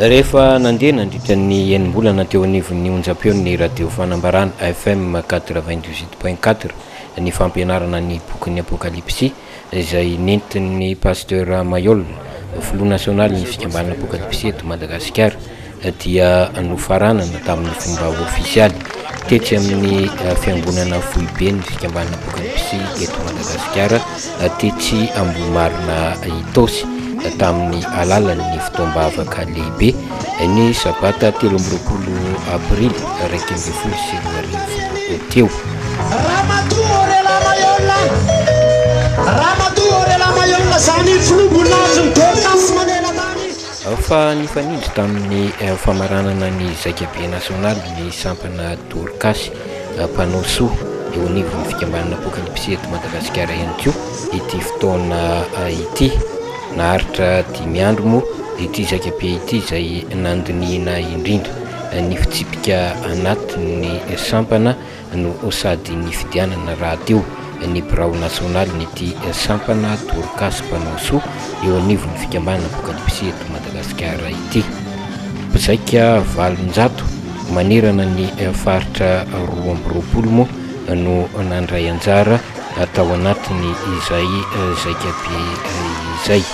Rehefa nandeha nandritra ny enim-bolana teo anivon'ny onjam-peon'ny Radio Fanambarana, FM 98 point 4, ny fampianarana ny bokin'ny Apokalypsy, izay nentin'ny Pasteur Mayolle, filoha nasionalin'ny fikambanana Apokalypsy eto Madagasikara. dia nofaranana tamin'ny fomba ofisialy tetsy amin'ny fiangonana foiben'ny fikambanana Bokin'i Psy eto Madagasikara tetsy Ambohimarina Itaosy tamin'ny alalan'ny fotoam-bavaka lehibe ny sabata telo amby roapolo aprily iraika ambin'ny folo sy roa arivo teo. Fa nifanindry tamin'ny famaranana ny Zaika Be Nasionaly ny sampana Dorcas mpanao soa eo anivon'ny fikambanana Poakany Psy eto Madagasikara ihany koa ity fotoana ity. Naharitra dimy andro moa ity Zaika Be ity izay nandinihina indrindra ny fitsipika anatin'ny sampana no sady nifidianana rahateo ny birao nasionalin'ity sampana Dorcas mpanao soa eo anivon'ny fikambanana Apokalipsy eto Madagasikara ity. Mpizaika valonjato manerana ny faritra roa amby roapolo moa no nandray anjara tao anatin'izay zaikabe izay.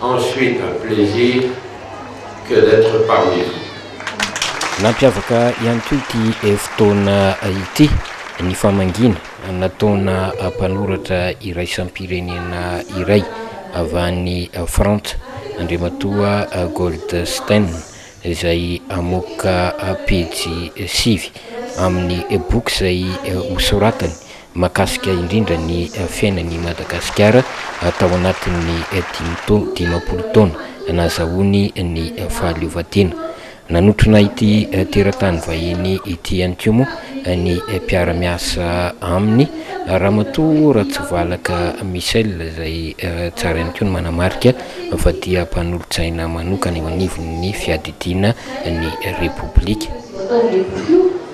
Ensuite un plaisir que d'etre parmi vous. Nampiavaka ihany koa ity fotoana ity ny famangiana nataona mpanoratra iraisam-pirenena iray avy any Frantsa, Andriamatoa Goldstein, izay hamoaka pejy sivy amin'ny boky izay hosoratany. Mahakasika indrindra ny fiainany i Madagasikara tao anatin'ny dimy taona, dimampolo taona nahazahoany ny fahaleovantena. Nanotrona ity teratany vahiny ity ihany koa moa ny mpiara-miasa aminy, Ramatoa Ratsivalaka Michel, izay tsara ihany koa ny manamarika fa dia mpanolotsaina manokana eo anivon'ny fiadidiana ny Repoblika.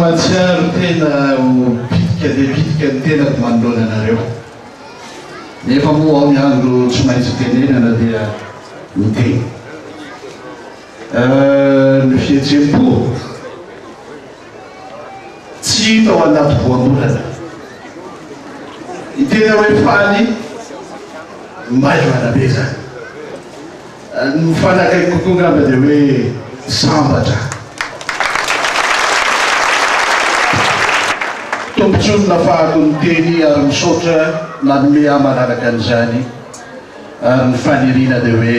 Mahatsiaro tena ho bitika dia bitika ny tenako manoloana anareo. Nefa moa aho ny andro tsy maintsy hitenenana dia miteny. Ny fihetsem-po. Tsy hita ao anaty voambolana ny tena hoe faly maivana be zany. Ny faly akaiky kokoa angamba dia hoe sambatra. Tombontsoa ny nafahako ny teny ary misaotra nanome ahy manaraka an'izany ary ny faniriana dia hoe.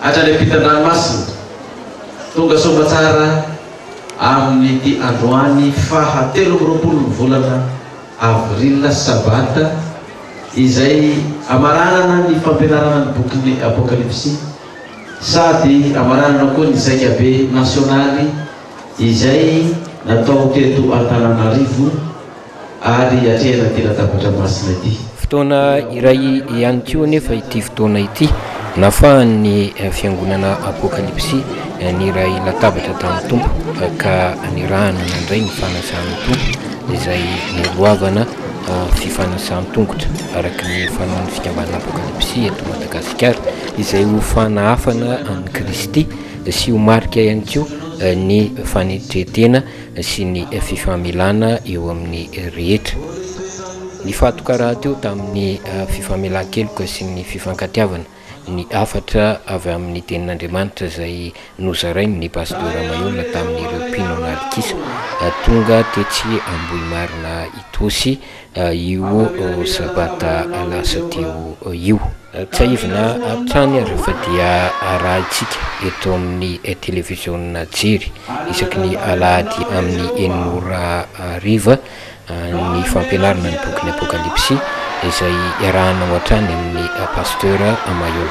Hatrany ampitan-dranomasina. Tonga soamantsara amin'ity androany faha telo amby roapolon'ny volana avril, sabata, izay amaranana ny fampianarana ny bokin'ny Apokalypsy sady amaranana koa ny Zaikabe nasionaly izay natao teto Antananarivo, ary hatrehan'ity latabatra masina ity. Fotoana iray ihany koa anefa ity fotoana ity nafahan'ny fiangonana Apokalypsy niray latabatra tamin'ny Tompo ka nirahany nandray ny fanasan'ny Tompo izay niroavana fifanasan-tongotra araka ny fanaon'ny fikambanana Apokalypsy eto Madagasikara izay ho fanahafana an'i Kristy sy ho marika ihany koa ny fanetren-tena sy ny fifamelana eo amin'ny rehetra. Nifantoka rahateo tamin'ny fifamelan-keloka sy ny fifankatiavana ny hafatra avy amin'ny Tenin'Andriamanitra izay nozarain'ny Pasteur Ramayola tamin'ireo mpino an'alikisa tonga tetsy Ambohimarina Itaosy io sabata lasa teo io. Tsiahivina hatrany ary fa dia arahintsika eto amin'ny televiziona Jery isaky ny alahady amin'ny enina ora hariva ny fampianarana ny bokin'ny Apokalypsy izay iarahanao hatrany amin'ny Pasteur Mailhol.